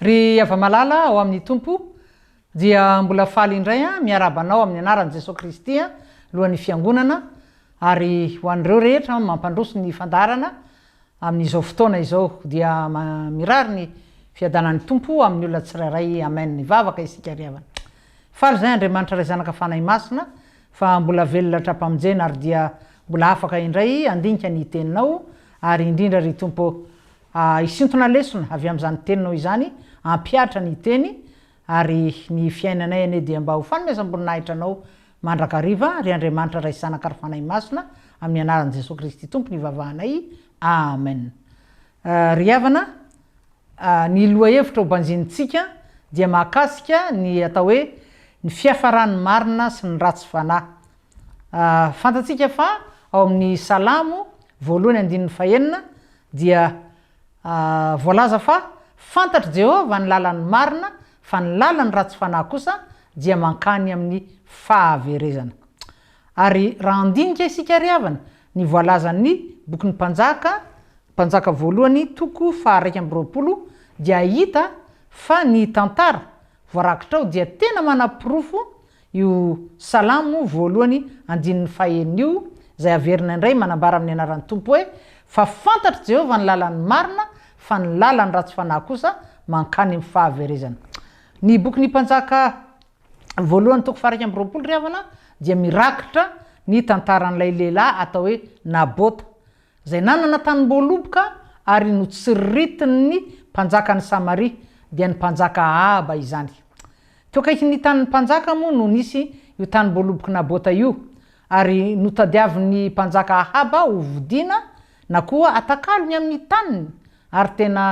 Ry hava-malala ao amin'ny Tompo, dia mbola faly indray aho miarahaba anao amin'ny anaran'i Jesoa Kristy, Lohan'ny Fiangonana, ary ho an'ireo rehetra mampandroso ny fandaharana, Amin'izao fotoana izao dia mirary ny fiadanan'ny Tompo amin'ny olona tsirairay Amen hivavaka isika ry havana Faly izay Andriamanitra Ray Zanaka Fanahy Masina fa mbola velona hatrampamonjena ary dia mbola afaka indray handinika ny Teninao ary indrindra ry Tompo ah hisintona lesona avy amin'izany Teninao izany hampihatra ny Teny ary ny fiainanay anie dia mba ho fanomezam-boninahitra Anao Mandrakariva, ry Andriamanitra Ray Zanaka ary Fanahy Masina, amin'ny anaran'i Jesoa Kristy Tompo no ivavahanay. Amen. Ry havana, ny lohahevitra ho banjinintsika dia mahakasika ny atao hoe ny fiafaran'ny marina sy ny ratsy fanahy. Fantatsika fa ao amin'ny Salamo voalohany andininy fahenina dia voalaza fa fantatr'i Jehovah ny lalan'ny marina Fa ny lalan'ny ratsy fanahy kosa dia mankany amin'ny fahaverezana. Ary raha handinika isika ry havana ny voalazan'ny Bokin'ny Mpanjaka, Mpanjaka Voalohany, toko faha-iraika amby roapolo, dia hahita fa ny tantara voarakitra ao dia tena manaporofo Io Salamo moa voalohany andininy fahenina io, izay averina indray manambara amin'ny anaran'ny Tompo hoe, Fa fantatr'i Jehovah ny lalan'ny marina, fa ny lalan'ny ratsy fanahy kosa mankany amin'ny fahaverezana. Ny Bokin'ny Mpanjaka voalohany toko faha-iraika amby roapolo ry havana dia mirakitra ny tantaran'ilay lehilahy atao hoe Nabota, Izay nanana tanim-boaloboka ary notsiritin' ny mpanjakan' ny Samaria, dia ny mpanjaka Ahaba izany. Teo akaikin' ny tanin' ny mpanjaka moa no nisy io tanim-boalobok' i Nabota io, ary notadiavin' ny mpanjaka Ahaba ho vodiana na koa atakalony amin' ny taniny, ary tena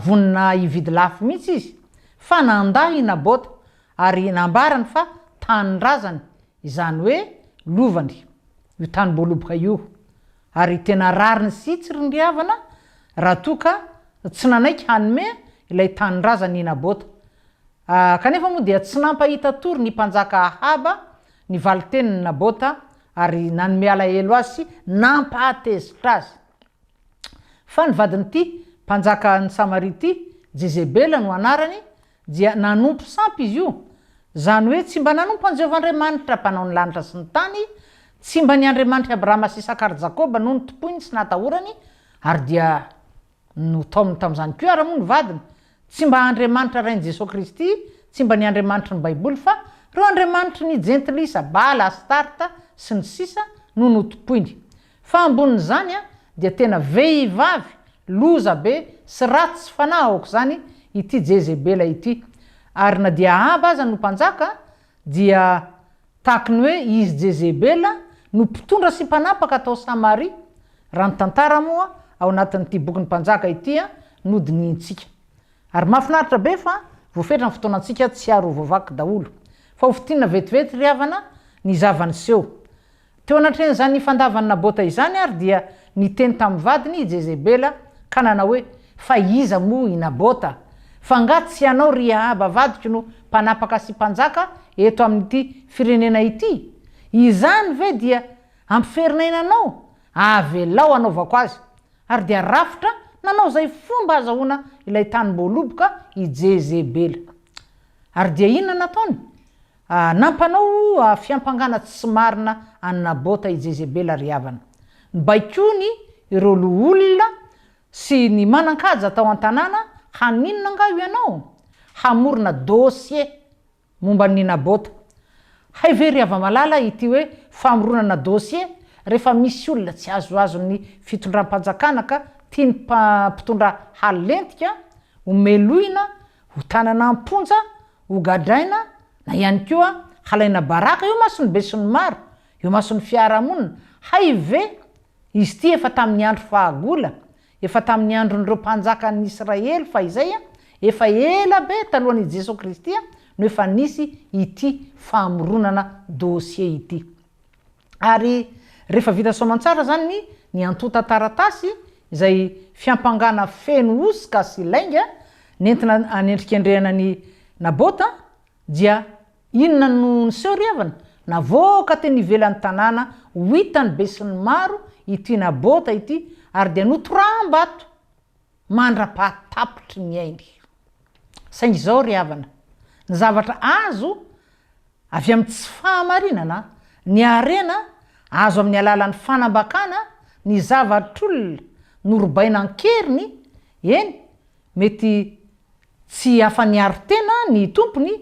vonona hividy lafo mihitsy izy, fa nandà i Nabota, ary nambarany fa tanindrazany Izany hoe lovany io tanim-boaloboka io ary tena rariny sy tsy rindriavana raha toa ka tsy nanaiky hanome ilay tanindrazany i Nabota. Kanefa moa dia tsy nampahita tory ny mpanjaka Ahaba ny valin-tenin'i Nabota ary nanome alahelo azy sy nampahatezitra azy fa ny vadin'ity mpanjakan'i Samaria ity, Jezebela no anarany, dia nanompo sampy izy io, izany hoe tsy mba nanompo an'i Jehovah Andriamanitra, Mpanao ny lanitra sy ny tany, tsy mba ny Andriamanitr'i Abrahama sy Isaka ary Jakoba no notompoiny sy natahorany, ary dia notaominy tamin'izany koa ary moa ny vadiny. Tsy mba Andriamanitra Rain'i Jesoa Kristy, tsy mba ny Andriamanitry ny Baiboly, fa ireo andriamanitry ny Jentilisa, Bala, Astarta, sy ny sisa, no notompoiny. Fa ambonin'izany dia tena vehivavy loza be sy ratsy fanahy aok'izany ity Jezebela ity. Ary na dia Ahaba aza no mpanjaka dia tahaky ny hoe izy Jezebela no mpitondra sy mpanapaka tao Samaria, raha ny tantara moa ao anatin'ity bokin'ny Mpanjaka ity no dinihintsika. Ary mahafinaritra be fa voafetra ny fotoanantsika tsy ary ho voavaky daholo. Fa hofintinina vetivety ry havana ny zava-niseho. Teo anatrehan'izany fandavan'i Nabota izany àry dia niteny tamin'ny vadiny i Jezebela ka nanao hoe, Fa iza moa i Nabota? Fa angaha tsy ianao, ry Ahaba vadiko, no mpanapaka sy mpanjaka eto amin'ity firenena ity? Izany ve dia hampiferin'aina anao? Avelao hanaovako azy. Ary dia rafitra nanao izay fomba hahazahoana ilay tanim-boaloboka i Jezebela. Ary dia inona nataony? Nampanao fiampangana tsy marina an'i Nabota i Jezebela ry havana. Nobaikoiny ireo loholona sy ny manan-kaja tao an-tanàna haninona angaha ianao? Hamorona dossier momba an'i Nabota. Hay ve ry hava-malala ity hoe famoronana dossier rehefa misy olona tsy azoazon'ny fitondram-panjakana ka tian'ny mpitondra halentika ho melohina ho tanana am-ponja Hogadraina na ihany koa halaina baraka eo mason'ny besinimaro, eo mason'ny fiarahamonina, hay ve izy ity efa tamin'ny andro fahagola, efa tamin'ny andron'ireo mpanjakan'ny Israely fahizay a, efa ela be talohan' i Jesoa Kristy no efa nisy ity famoronana dossier ity. ary rehefa vita soamantsara izany ny ny antontan-taratasy izay fiampangana feno hosoka sy lainga nentina anendrikendrehana ny Nabota dia inona no niseho ry havana? Navoaka teny ivelan'ny tanàna ho hitan'ny besinimaro ity Nabota ity ary dia notoram-bato! mandra-pahatapitry ny ainy. Saingy izao ry havana, ny zavatra azo avy amin'ny tsy fahamarinana, ny harena azo amin'ny alalan'ny fanambakana ny zavatr'olona norobaina an-keriny, eny, mety tsy afa-niaro tena ny tompony,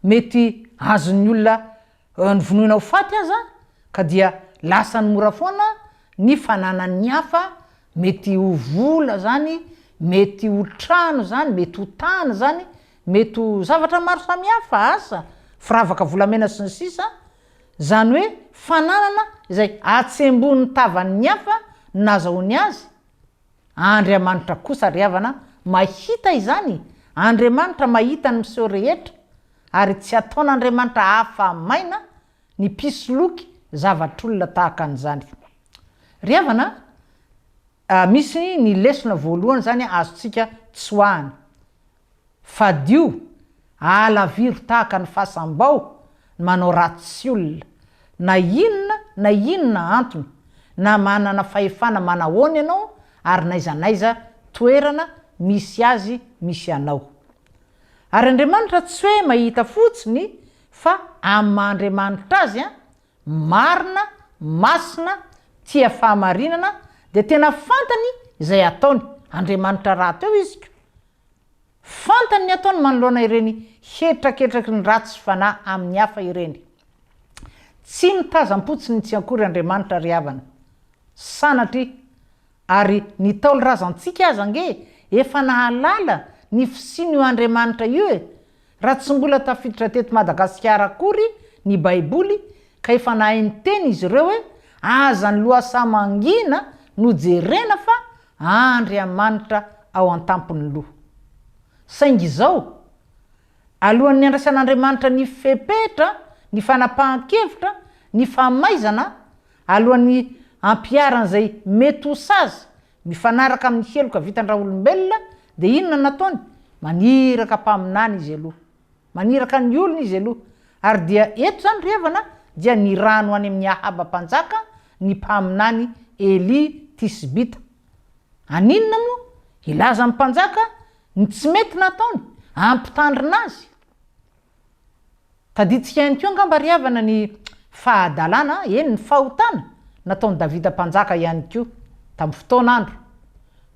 mety azon'ny olona Novonoina ho faty aza, ka dia lasany mora foana ny fananan'ny hafa, mety ho vola izany, mety ho trano izany, mety ho tany izany, mety ho zavatra maro samihafa, asa, firavaka volamena sy ny sisa, izany hoe fananana izay atsembohin'ny tavan'ny hafa nazahoany azy, Andriamanitra kosa ry havana mahita izany, Andriamanitra mahita ny miseho rehetra ary tsy ataon'Andriamanitra afa-maina ny mpisoloky zavatr'olona tahaka an'izany. Ry havana a, misy ny lesona voalohany izany azontsika tsoahana, Fadio, ahalaviro tahaka ny fasam-bao ny manao ratsy olona, na inona na inona antony, na manana fahefana manahoana ianao ary n'aiza n'aiza toerana misy azy misy anao. Ary Andriamanitra tsy hoe mahita fotsiny fa amin'ny maha Andriamanitra Azy an, marina, masina, tia fahamarinana, dia tena fantany izay ataony, Andriamanitra rahateo izy ko, Fantany ny ataony manoloana ireny hetraketraky ny ratsy fanahy amin'ny hafa ireny. Tsy mitazam-potsiny tsy akory Andriamanitra ry havana. Sanatria! Ary ny Ntaolo razantsika aza ange efa nahalala ny fisian'io Andriamanitra io e! Raha tsy mbola tafiditra teto Madagasikara akory ny Baiboly ka efa nahay niteny izy ireo hoe aza ny lohasaha mangina no jerena fa Andriamanitra ao an-tampon'ny loha. Saingy izao, alohan'ny handraisan'Andriamanitra ny fepetra, ny fanapahan-kevitra, ny famaizana, alohan'ny hampiharany izay mety ho sazy Mifanaraka amin'ny heloka vitan-dRaolombelona dia inona no nataony? Maniraka mpaminany izy aloha. Maniraka ny olony izy aloha. Ary dia eto izany ry havana dia nirano any amin'i Ahaba mpanjaka ny mpaminany Elia Tisbita. Aninona moa? Hilaza amin'ny mpanjaka ny tsy mety nataony? Hampitandrina azy? Tadidintsika ihany koa angamba ry havana ny fahadalana, eny ny fahotana, nataon'i Davida mpanjaka ihany koa, tamin'ny fotoana andro.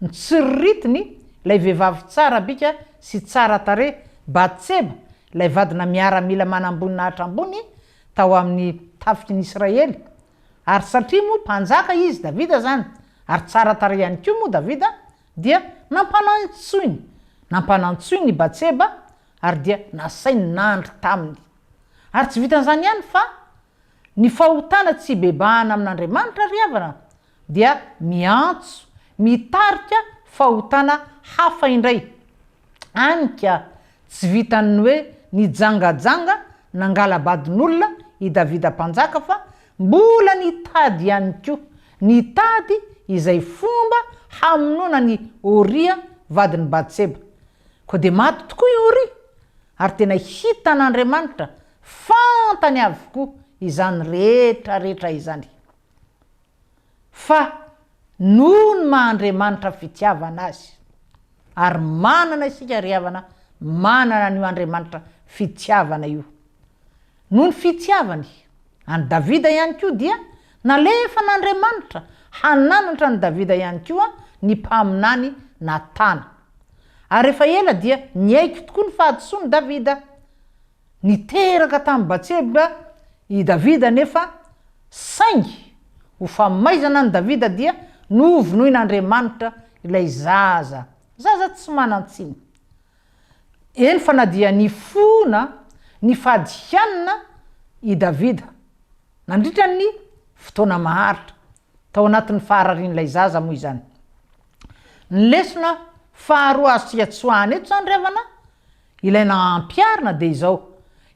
Notsiriritiny ilay vehivavy tsara bika sy tsara tarehy, Batseba, ilay vadina miaramila manamboninahitra ambony tao amin'ny tafiky ny Israely. Ary satria moa mpanjaka izy, Davida, izany, ary tsara tarehy ihany koa moa Davida, dia nampanantsoiny, nampanantsoiny i Batseba Ary dia nasainy nandry taminy. Ary tsy vitan'izany ihany fa ny fahotana tsy hibebahana amin'Andriamanitra ry havana dia miantso, mitarika fahotana hafa indray. Any ka, tsy vitan'ny hoe nijangajanga nangala-badin'olona i Davida Mpanjaka fa mbola nitady ihany koa, nitady izay fomba hamonoana an'i Oria vadin'i Batseba. Koa dia maty tokoa i Oria, ary tena hitan'Andriamanitra, fantany avokoa izany rehetrarehetra izany. Fa noho ny maha Andriamanitra fitiavana azy, ary manana isika ry havana, manana an'io Andriamanitra fitiavana io, Noho ny fitiavany an'i Davida ihany koa dia nalefan'Andriamanitra hananatra an'i Davida ihany koa ny mpaminany Natana. Ary efa ela dia niaiky tokoa ny fahadisoan'i Davida. Niteraka tamin'i Batseba i Davida anefa, saingy ho famaizana an'i Davida dia novonoin'Andriamanitra ilay zaza, zaza tsy manan-tsiny. Eny fa na dia nifona nifady hanina i Davida nandritra ny fotoana maharitra tao anatin'ny fahararian'ilay zaza moa izany. Ny lesona faharoa azontsika tsoahina eto izany ry havana, ilay nampiharina dia izao,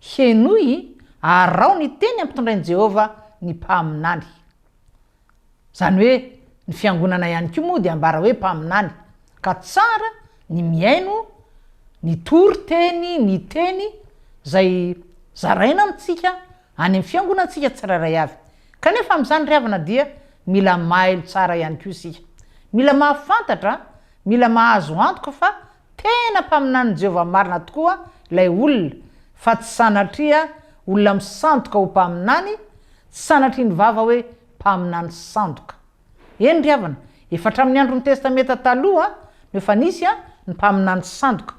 Henoy, araho ny teny ampitondrain'i Jehovah ny mpaminany. Izany hoe ny fiangonana ihany koa moa dia ambara hoe mpaminany, ka tsara ny mihaino ny tory teny ny teny izay zaraina amintsika any amin'ny fiangonantsika tsirairay avy. Kanefa amin'izany ry havana dia mila mailo tsara ihany koa isika. Mila mahafantatra, mila mahazo antoka fa Tena mpaminanin'i Jehovah marina tokoa ilay olona, fa tsy sanatria olona misandoka ho mpaminany, tsy sanatria ny vava hoe mpaminany sandoka. Eny ry havana, efa hatramin'ny andron'ny Testamenta Taloha no efa nisy ny mpaminany sandoka,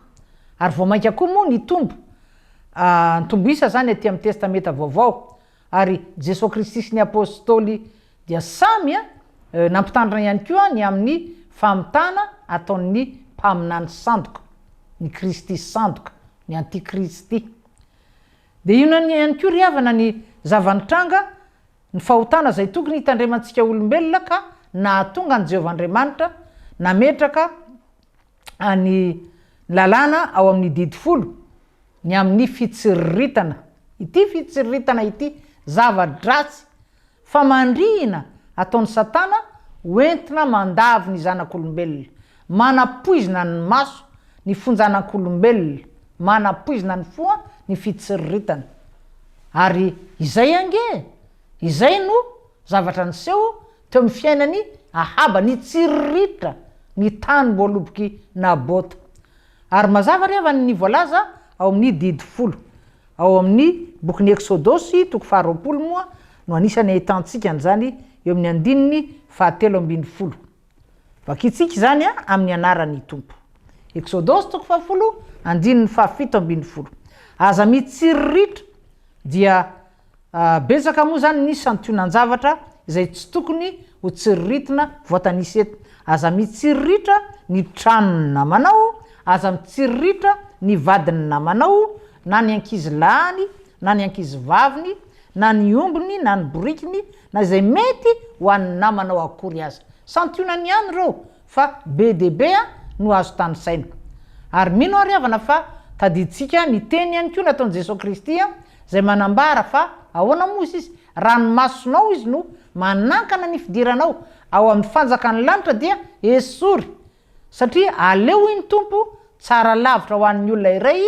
ary vao mainka koa moa nitombo, nitombo isa izany atỳ amin'ny Testamenta Vaovao. Ary Jesoa Kristy sy ny Apôstôly dia samy nampitandrina ihany koa ny amin'ny famitana ataon'ny mpaminany sandoka, ny Kristy sandoka, ny antikristy. Dia inona ihany koa ry havana ny zava-nitranga, ny fahotana izay tokony hitandremantsika olombelona ka nahatonga an'i Jehovah Andriamanitra nametraka ny lalàna ao amin'ny didy folo ny amin'ny fitsiriritana ity fitsiriritana ity, zava-dratsy, famandrihina ataon'i Satana ho entina mandavo ny zanak'olombelona, manapoizina ny maso ny fonjanak'olombelona, manapoizina ny fo ny fitsiriritana. Ary izay ange e! Izay no zavatra niseho Teo amin'ny fiainan'i Ahaba, nitsiriritra ny tany voalobok'i Nabota. Ary mazava re avany ny voalaza ao amin'ny Didy folo. Ao amin'ny bokin'ny Eksodosy, toko faharoapolo, moa no anisan'ny ahitantsika an'izany eo amin'ny andininy fahatelo ambin'ny folo. Vakintsika izany amin'ny anaran'ny Tompo. Eksodosy toko fahafolo, andininy fahafito ambin'ny folo. Aza mitsiriritra, dia Betsaka moa izany ny santionan-javatra izay tsy tokony ho tsiriritina voatanisa eto. Aza mitsiriritra ny tranon'ny namanao, aza mitsiriritra ny vadin'ny namanao, na ny ankizy lahiny, na ny ankizy vaviny, na ny ombiny, na ny borikiny, na izay mety ho an'ny namanao akory aza. Santionany ihany ireo fa be dia be no azo tanisaina. Ary mino aho ry havana fa tadidintsika ny teny ihany koa nataon'i Jesoa Kristy izay manambara fa ahoana moa hozy izy, raha ny masonao izy no manankana ny fidiranao ao amin'ny fanjakan'ny lanitra dia esory satria aleo hoy ny Tompo tsara lavitra ho an'ny olona iray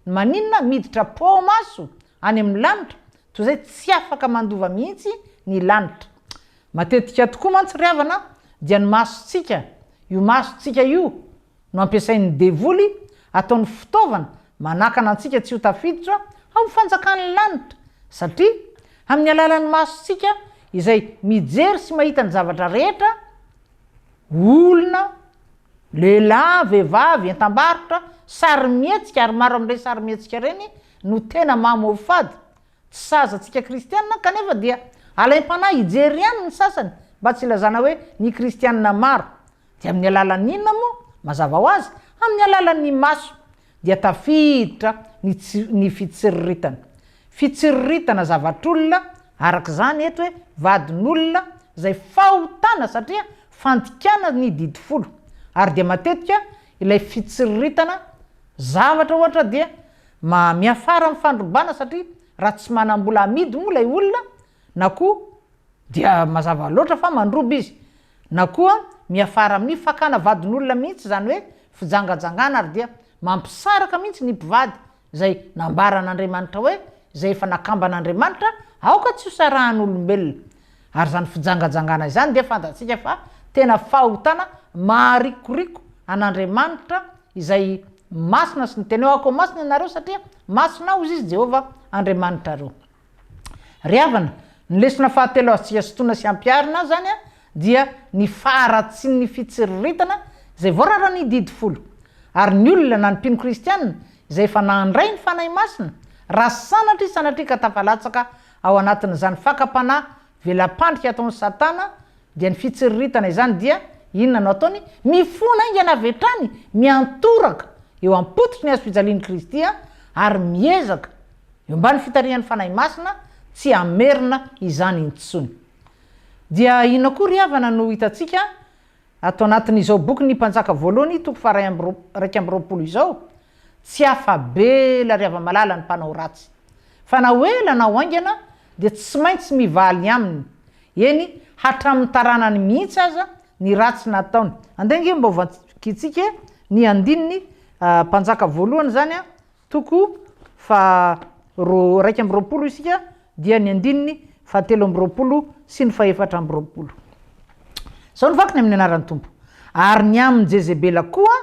ny maninona miditra poa ao maso Any amin'ny lanitra, toy izay tsy afaka mandova mihitsy ny lanitra. Matetika tokoa mantsy ry havana dia ny masontsika, io masontsika io no ampiasain'ny devoly ataony fitaovana manakana antsika tsy ho tafiditra ao amin'ny fanjakan'ny lanitra, satria amin'ny alalan'ny masontsika izay mijery sy mahita ny zavatra rehetra, olona, Lehilahy, vehivavy, entam-barotra, sarimihetsika ary maro amin'ireny sarimihetsika ireny no tena maha-mofo-fady. Tsy saza antsika kristianina kanefa dia alaim-panahy hijery ihany ny sasany mba tsy hilazana hoe ny kristianina maro. Dia amin'ny alalan'ny inona moa? Mazava ho azy, amin'ny alalan'ny maso. dia tafiditra ny tsy, ny fitsiriritana. Fitsiriritana zavatr'olona, araka izany eto hoe vadin'olona, izay fahotana satria fandikana ny didy folo. Ary dia matetika ilay fitsiriritana zavatra ohatra dia miafara amin'ny fandrobana satria raha tsy manam-bola amidy moa ilay olona na koa. Dia mazava loatra fa mandroba izy. Na koa miafara amin'ny fakana vadin'olona mihitsy izany hoe fijangajangana ary dia mampisaraka mihitsy ny mpivady izay nambaran'Andriamanitra hoe izay efa nakamban'Andriamanitra aoka tsy hosarahan'olombelona. Ary izany fijangajangana izany dia fantatsika fa tena fahotana maharikoriko an'Andriamanitra izay masina sy ny tenao akoa masina ianareo satria masina hozy izy Jehovah Andriamanitrareo. Ry havana, ny lesona fahatelo azontsika sintonina sy ampiharina izany dia ny faharatsian'ny fitsiriritana izay voararan'ny Didy Folo. Ary ny olona na ny mpino kristiana izay efa nandray ny Fanahy Masina, raha sanatria sanatria ka tafalatsaka ao anatin'izany fakam-panahy Vela-pandrika ataon'i Satana dia ny fitsiriritana izany dia, inona no ataony? Mifona haingana avy hatrany miantoraka eo am-pototry ny hazo fijalian'i Kristy ary miezaka, eo ambany fitarihan'ny Fanahy Masina, tsy hamerina izany intsony. Dia inona koa ry havana no hitantsika Ato anatin'izao boky Ny Mpanjaka Voalohany, toko faha iraika amby roapolo izao, tsy afa-be ry hava-malala ny mpanao ratsy. Fa na ho ela na ho haingana dia tsy maintsy mivaly aminy, eny, hatramin'ny taranany mihitsy aza, ny ratsy nataony. Andeha ange mba ho vakintsika ny andininy Mpanjaka Voalohany izany an! Toko faha roa iraika amby roapolo isika dia ny andininy fahatelo amby roapolo sy ny fahefatra amby roapolo. Izao no vakiny amin'ny anaran'ny Tompo, Ary ny amin'i Jezebela koa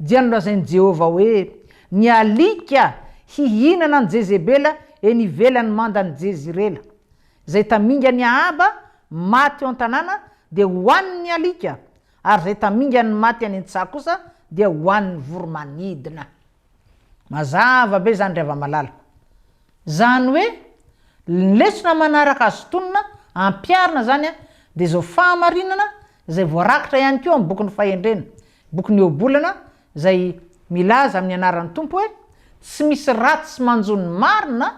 dia nolazain'i Jehovah hoe, Ny alika hihinana an'i Jezebela eny ivelan'ny mandan'i Jezirela. Izay tamingan'i Ahaba maty eo an-tanàna dia hohanin'ny alika, ary izay tamingan'ny maty any an-tsaha kosa dia hohanin'ny voromanidina. Mazava be izany ry hava-malala. Izany hoe, ny lesona manaraka azo tonona ampiharina izany dia izao fahamarinana izay voarakitra ihany koa amin'ny bokin'ny Fahendrena, bokin'ny Ioabolana izay milaza amin'ny anaran'ny Tompo hoe, Tsy misy ratsy manjo ny marina,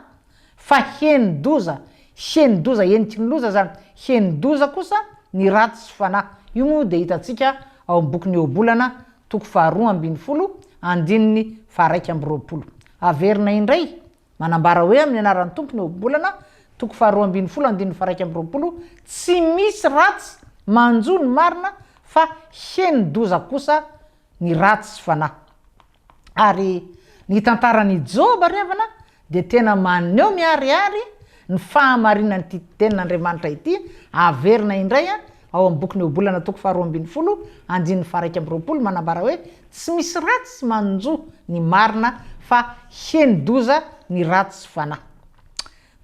Fa henon-doza, henon-doza heniky ny loza izany, henon-doza kosa ny ratsy sy fanahy. Io moa dia hitantsika ao amin'ny bokin'ny Ohabolana, toko faharoa ambin'ny folo, andininy faharaika amby roapolo. Averina indray, manambara hoe amin'ny anaran'ny Tompo ny Ohabolana, toko faharoa ambin'ny folo, andininy faharaika amby roapolo, Tsy misy ratsy manjo ny marina, fa henon-doza kosa ny ratsy sy fanahy. Ary ny tantaran'i Joba ry havana dia tena maneho miharihary ny fahamarinan'ity tenin'Andriamanitra ity, averina indray ao amin'ny bokin'ny Ohabolana toko faharoa ambin'ny folo andininy faharaika amby roapolo manambara hoe tsy misy ratsy manjo ny marina fa heni-doza ny ratsy fanahy.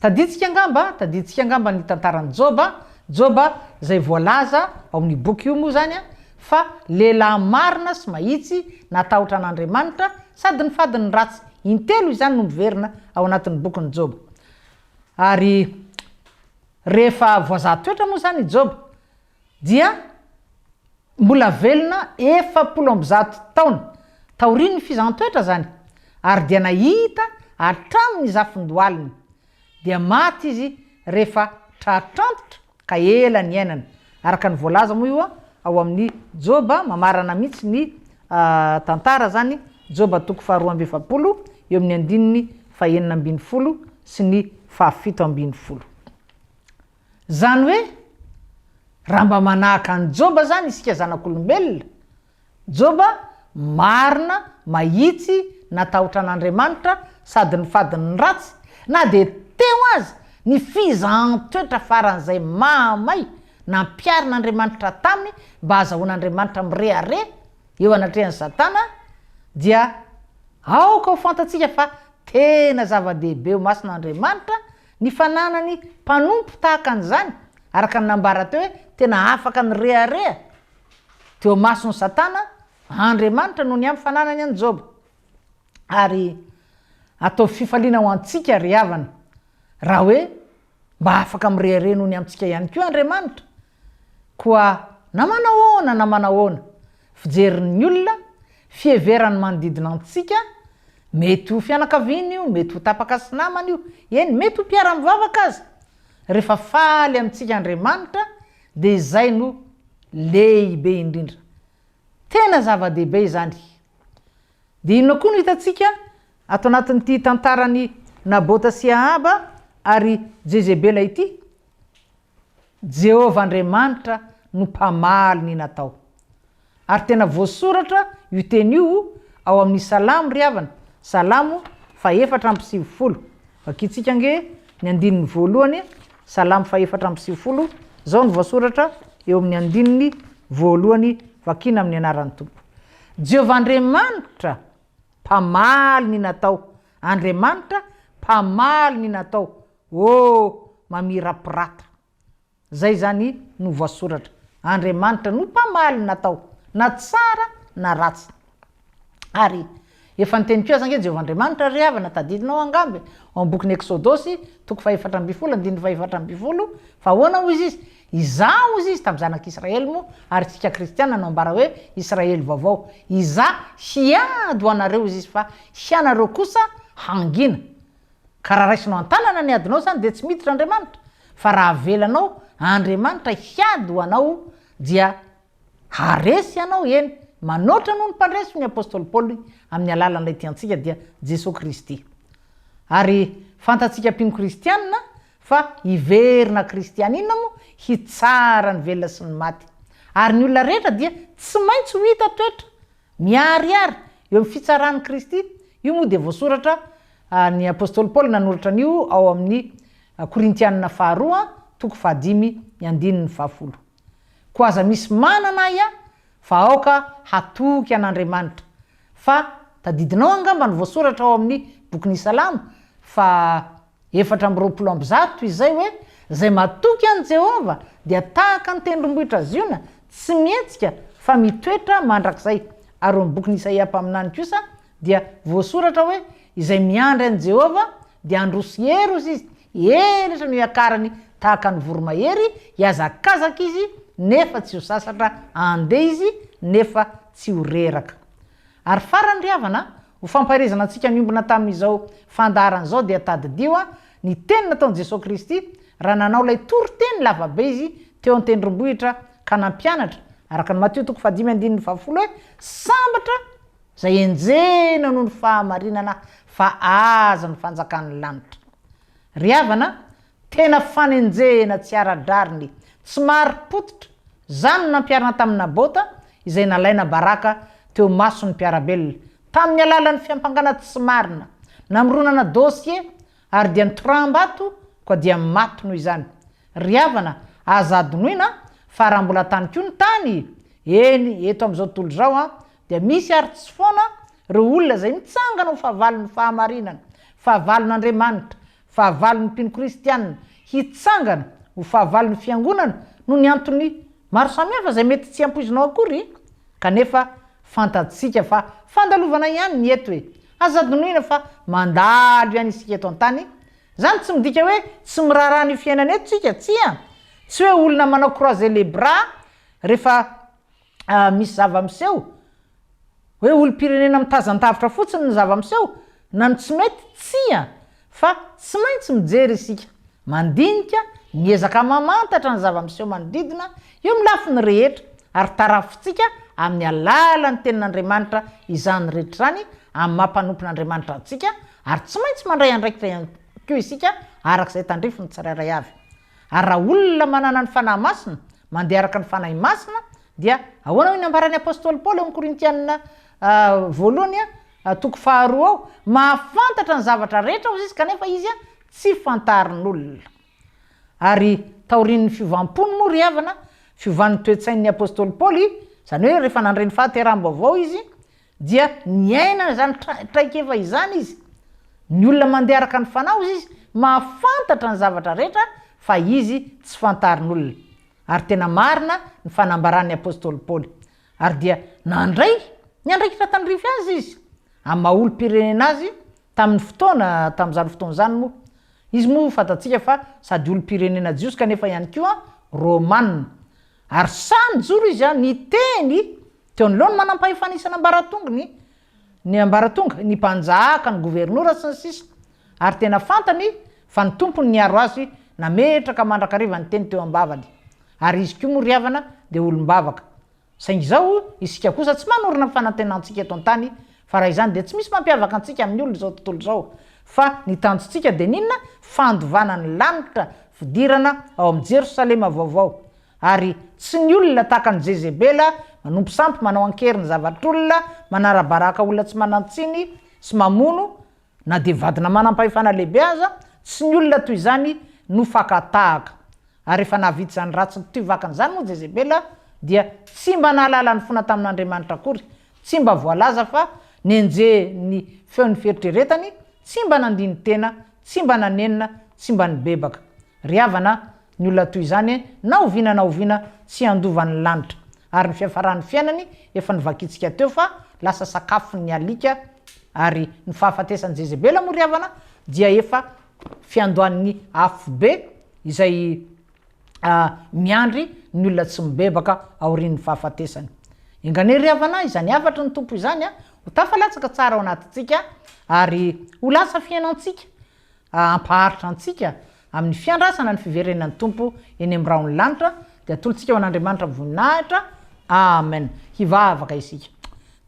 Tadintsika angamba, tadintsika angamba ny tantaran'i Joba, Joba izay voalaza ao amin'io boky io moa izany fa lehilahy marina sy mahitsy, natahotra an'Andriamanitra, sady nifady ny ratsy. Intelo izany no miverina ao anatin'ny bokin'i Joba. Ary rehefa voazaha toetra moa izany i Joba. dia mbola velona efapolo amby zato taona taorian'ny fizaham-toetra izany, ary dia nahita hatramin'ny zafin-dohaliny, dia maty izy rehefa tratr' antitra ka ela niainana, araka ny voalaza moa io ao amin'ny Joba, mamarana mihitsy ny tantara izany, Joba toko faharoa amby efapolo eo amin'ny andininy fahenina ambin'ny folo sy ny fahafito ambin'ny folo. Zany hoe raha mba manahaka an'i Joba zany isika zanak'olombelona, Joba marina, mahitsy, natahotra an'Andriamanitra sady nifady ny ratsy, na dia teo aza ny fizahan-toetra faran'izay mahamay nampiharin'Andriamanitra taminy mba hazahoan'Andriamanitra mirehareha eo anatrehan'i Satana, dia aoka ho fantatsika fa tena zava-dehibe ho masina Andriamanitra Ny fananany mpanompo tahaka an'izany, araka ny nambara teo hoe tena afaka nirehareha teo imason'i Satana, Andriamanitra no niampy fananany an'i Joba. Ary ataovy fifaliana ho antsika, ry havana, raha hoe mba afaka mirehareha noho ny amintsika ihany koa Andriamanitra, Koa na manao ahoana na manao ahoana, fijerin'ny olona, fiheverany manodidina antsika, mety ho fianakaviana io, mety ho tapaka sy namana io, eny mety ho mpiara-mivavaka aza, rehefa faly amintsika Andriamanitra dia izay no lehibe indrindra. Tena zava-dehibe izany. Dia inona koa no hitantsika ato anatin'ity tantaran'i Nabota sy Ahaba ary Jezebela ity? Jehovah Andriamanitra no mpamaly ny natao. Ary tena voasoratra io teny io ao amin'ny Salamo ry havana, Salamo fahefatra amby sivifolo. Vakintsika ange ny andininy voalohany, Salamo fahefatra amby sivifolo, izao no voasoratra eo amin'ny andininy voalohany, vakina amin'ny anaran'ny Tompo. Jehovah Andriamanitra mpamaly ny natao, Andriamanitra mpamaly ny natao. Oh! mamirapiratra. Zay zany no voasoratra. Andriamanitra no mpamaly natao na tsara na ratsy. Ary efa niteny koa aza ange Jehovah Andriamanitra, ry havana, tadidinao angamba e, ao amin'ny bokin'ny Eksodosy, toko fahefatra ambin'ny folo, andininy fahefatra ambin'ny folo, fa ahoana hoy izy izy, Izaho, hoy izy, tamin'ny zanak'Israely moa, ary isika kristiana no ambara hoe Israely vaovao, Izaho hiady ho anareo, hoy izy, fa hianareo kosa hangina. Ka raha raisinao an-tanana ny adinao izany dia tsy miditra Andriamanitra, fa raha avelanao Andriamanitra hiady ho anao dia haharesy ianao, eny, manoatra noho ny mpandresy hoy ny apostoly Paoly amin'ny alalan'ilay tiantsika dia Jesoa Kristy. Ary fantatsika mpino kristianina fa hiverina kristianina moa hitsara ny velona sy ny maty. Ary ny olona rehetra dia tsy maintsy ho hita toetra Miharihary eo amin'ny fitsaran'i Kristy, io moa dia voasoratra, ny apostoly Paoly nanoratra an'io ao amin'ny Korintianina faharoa toko fahadimy ny andininy fahafolo. Koa aza misy manana ahy aho fa aoka hatoky an'Andriamanitra, fa tadidinao angamba ny voasoratra ao amin'ny bokin'ny Salamo fa. efatra amby roapolo amby zato izay hoe, Izay matoky an'i Jehovah dia tahaka ny tendrombohitra Ziona, tsy mihetsika fa mitoetra mandrakizay. Ary eo amin'ny bokin'i Isaia mpaminany kosa dia voasoratra hoe, Izay miandry an'i Jehovah dia handroso heros izy, elatra no hiakarany tahaka ny voromahery, hihazakazaka izy nefa tsy ho sasatra, handeha izy nefa tsy ho reraka. Ary farany ry havana, ho fampaherezana antsika miombona tamin'izao fandaharana izao dia tadidio ny teny nataon'i Jesoa Kristy raha nanao ilay toriteny lavabe Izy teo an-tendrombohitra ka nampianatra, araka ny Matio toko fahadimy andininy fahafolo hoe, Sambatra izay enjehina noho ny fahamarinana fa azy ny fanjakan'ny lanitra. Ry havana, Tena fanenjehena tsy ara-drariny, tsy marim-pototra, izany no nampiharina tamin'i Nabota, izay nalaina baraka teo mason'ny mpiara-belona, tamin'ny alalan'ny fiampangana tsy marina, namoronana dosie, ary dia nitoram-bato koa dia maty noho izany. Ry havana, aza adinoina fa raha mbola tany koa ny tany, eny, eto amin'izao tontolo izao, dia misy ary tsy foana ireo olona izay mitsangana ho fahavalon'ny fahamarinana, fahavalon'Andriamanitra, Fahavalon'ny mpino kristiana hitsangana ho fahavalon'ny Fiangonana noho ny antony maro samihafa izay mety tsy ampoizinao akory, kanefa fantatsika fa fandalovana ihany ny eto e! Aza adinoina fa mandalo ihany isika eto an-tany, izany tsy midika hoe tsy miraharaha an'io fiainana io tsika, tsia! Tsy hoe olona manao croiser les bras rehefa ah, misy zava-miseho, hoe olom-pirenena mitazan-davitra fotsiny ny zava-miseho, na ny tsy mety, tsia, fa tsy maintsy mijery isika, mandinika, miezaka mamantatra ny zava-miseho manodidina, eo amin'ny lafiny rehetra, ary tarafintsika amin'ny alalan'ny Tenin'Andriamanitra izany rehetra izany, amin'ny maha-mpanompon'Andriamanitra antsika, ary tsy maintsy mandray andraikitra ihany koa isika, araka izay tandrifin'ny tsirairay avy. Ary raha olona manana ny Fanahy Masina, mandeha araka ny Fanahy Masina, dia ahoana hoy ny ambaran'ny Apostoly Paoly ao amin'ny Korintiana voalohany toko faharoa ao, mahafantatra ny zavatra rehetra hozy izy kanefa izy tsy fantarin'olona. Ary taorian'ny fiovam-pony moa ry havana, fiovan'ny toe-tsain'ny Apostoly Paoly, izany hoe rehefa nandre ny fahateraham-baovao izy, Dia niainana izany traikefa izany izy. Ny olona mandeha araka ny fanahy, hoy izy, mahafantatra ny zavatra rehetra fa izy tsy fantarin'olona. Ary tena marina ny fanambaran'ny apostoly Paoly. Ary dia nandray ny andraikitra tandrify azy izy, amin'ny maha olom-pirenena azy tamin'ny fotoana tamin'izany fotoana izany moa. Izy moa fantatsika fa sady olom-pirenena jiosy kanefa ihany koa Romana. Ary sahy nijoro izy niteny Teo anoloan'ny manampahefana isan'ambaratongony, ny ambaratonga, ny mpanjaka, ny governora, sy ny sisa Ary tena fantany fa ny tompony niaro azy nametraka mandrakariva ny teny teo am-bavany. Ary izy koa moa ry havana dia olom-bavaka. Saingy izao isika kosa tsy manorina ny fanantenantsika eto an-tany fa raha izany dia tsy misy mampiavaka antsika amin'ny olona izao tontolo izao fa ny tanjontsika dia ny inona? Fandovana ny lanitra, fidirana ao amin'ny Jerosalema vaovao. Ary tsy ny olona tahaka an'i Jezebela, manompo sampy, manao an-kery ny zavatr'olona, manara-baraka olona tsy manan-tsiny sy mamono, na dia vadina manam-pahefana lehibe aza, tsy ny olona toy izany no fakan-tahaka. Ary rehefa nahavita izany ratsiny toy vakiny izany moa Jezebela, dia tsy mba nahalala ny fona tamin'Andriamanitra akory, tsy mba voalaza fa nenjehin'ny feon'ny fieritreretany, tsy mba nandini-tena, tsy mba nanenina, tsy mba nibebaka. Ry havana, Ny olona toy izany, na oviana na oviana, tsy handova ny lanitra, ary ny fiafaran'ny fiainany, efa novakintsika teo fa lasa sakafon'ny alika, ary ny fahafatesan'i Jezebela moa ry havana dia efa fiandohan'ny afobe izay miandry ny olona tsy mibebaka aorian'ny fahafatesany. Enganey ry havana, izany hafatry ny Tompo izany ho tafalatsaka tsara ao anatintsika, ary ho lasa fiainantsika. hampaharitra antsika amin'ny fiandrasana ny fiverenan'ny Tompo eny amin'ny rahon'ny lanitra dia atolotsika ho an'Andriamanitra amin'ny voninahitra Amen hivavaka isika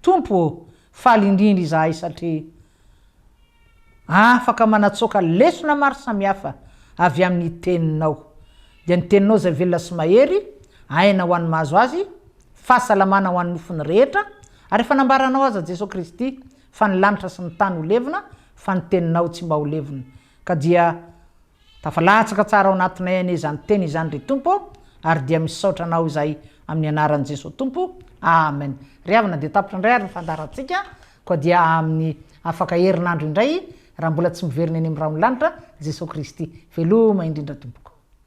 Tompo ô faly indrindra izahay satria afaka manatsoaka lesona maro samihafa avy amin'ny teninao dia ny teninao izay velona sy mahery aina ho an'ny mahazo azy fahasalamana ho an'ny nofony rehetra ary efa nambaranao aza Jesoa Kristy Fa ny lanitra sy ny tany ho levona, fa ny teninao tsy mba ho levona. Ka dia tafalatsaka tsara ao anatinay anie izany teny izany ry Tompo ô, ary dia misaotra Anao izahay amin'ny anaran'i Jesoa Tompo, Amen. Ry havana dia tapitra indray ary ny fandaharantsika, koa dia amin'ny afaka herinandro indray, raha mbola tsy miverina eny amin'ny rahon'ny lanitra, Jesoa Kristy. Veloma indrindra tompoko.